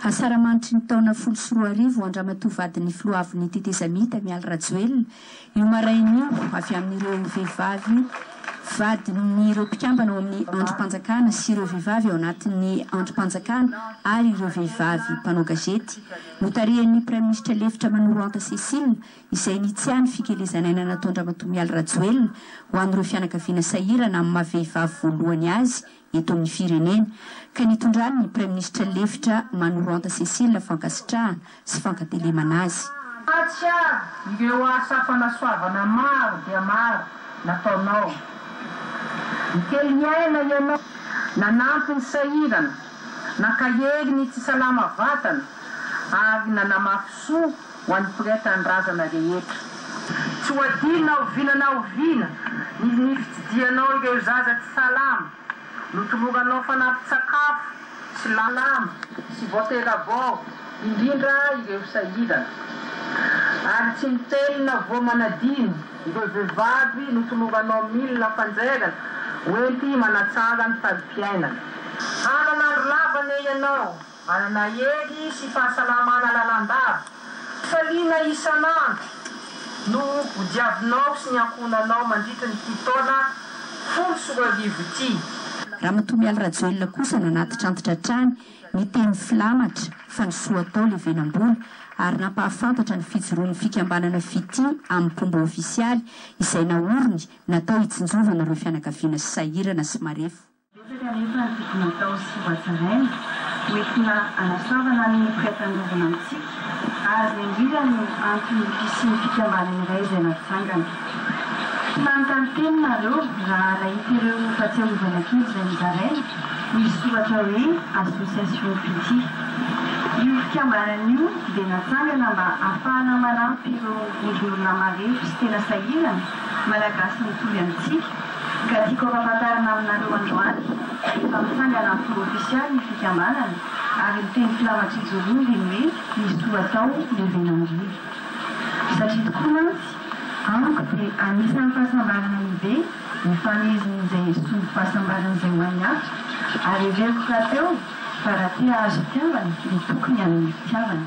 Asaramanitry ny taona folo sy roa arivo, Andramatoa vadin'ny filoha avon'ny tetezamita, Mialy Rajoelina, Io maraina io, avy amin'ireo vehivavy vadin'ireo mpikambana ao amin'ny andrim-panjakana sy ireo vehivavy ao anatin'ny andrim-panjakana ary ireo vehivavy mpanao gazety, notarihan'ny Praiminisitra lefitra Manolo Anta Cécile, izay nitsia ny fikelezan'aina nataon-dRamatoa Mialy Rajoelina ho an'ireo fianakaviana sahirana amin'ny maha-vehivavy voalohany azy eto amin'ny firenena, ka nitondrany ny Praiminisitra lefitra Manoranta Cécile fankasitrahana sy fankatelemana azy. Mampahatsiahy ireo asa fanasoavana maro dia maro nataonao. Nikely ny aina ianao, nanampy ny sahirana, nankahery ny tsy salama vatana ary nanamafy soa ho an'ny mpiray tanindrazana rehetra. Tsy ho adino na oviana na oviana ny ny fitsidihanao ireo zaza tsy salama, notoloranao fanampin-tsakafo sy lalàna sy voatera-bao, indrindra ireo sahirana. Ary tsy miteny na voa manadino ireo vehivavy notoloranao milina fanjairana hoenti-manatsara ny fari-piainana. Hanana andro lava anie ianao Manana hery sy fahasalamana lalandava. Fifaliana isan'andro no hodiavinao sy ny ankohonanao mandritra ity taona folo sy roa arivo ity. Ramatoa Mialy Rajoelina kosa nanatitrantitra hatrany ny teny filamatra fa ny soa atao levenam-bola ary nampahafantatra ny fijoroan'ny fikambanana Fitia amin'ny mpomba ofisialy izay naoriny natao hitsinjovana ireo fianakaviana sahirana sy marefo. Betsaka anefa ny tokony hatao sy hohatsaraina, hoentina hanasoavana ny mpiray tandrovana amintsika, ary izay indrindra no anton'ny fisian'ny fikambanana iray izay natsangana. Tsy manontany teny nareo raha nahita ireo fahatsiarovana kely izay nozaraina, misy soratra hoe Association Pitié. Io fikambanana io dia natsangana mba hahafahana manampy ireo vondron'olona marefo sy tena sahirana, Malagasy mitovy amintsika, Ka tiako ampafantarina aminareo androany efa mitsangana am-po ofisialy ny fikambanana ary miteny filamatrijolioly ny hoe ny soa atao no vena indrindra. Satria tokoa mantsy amiko dia anisan'ny fahasambarana lehibe ny famehezana izay esory fahasambarana izay ho an'ny hafa ary heveriko rahateo fa raha te hahazo fitiavana dia tokony hanome fitiavana.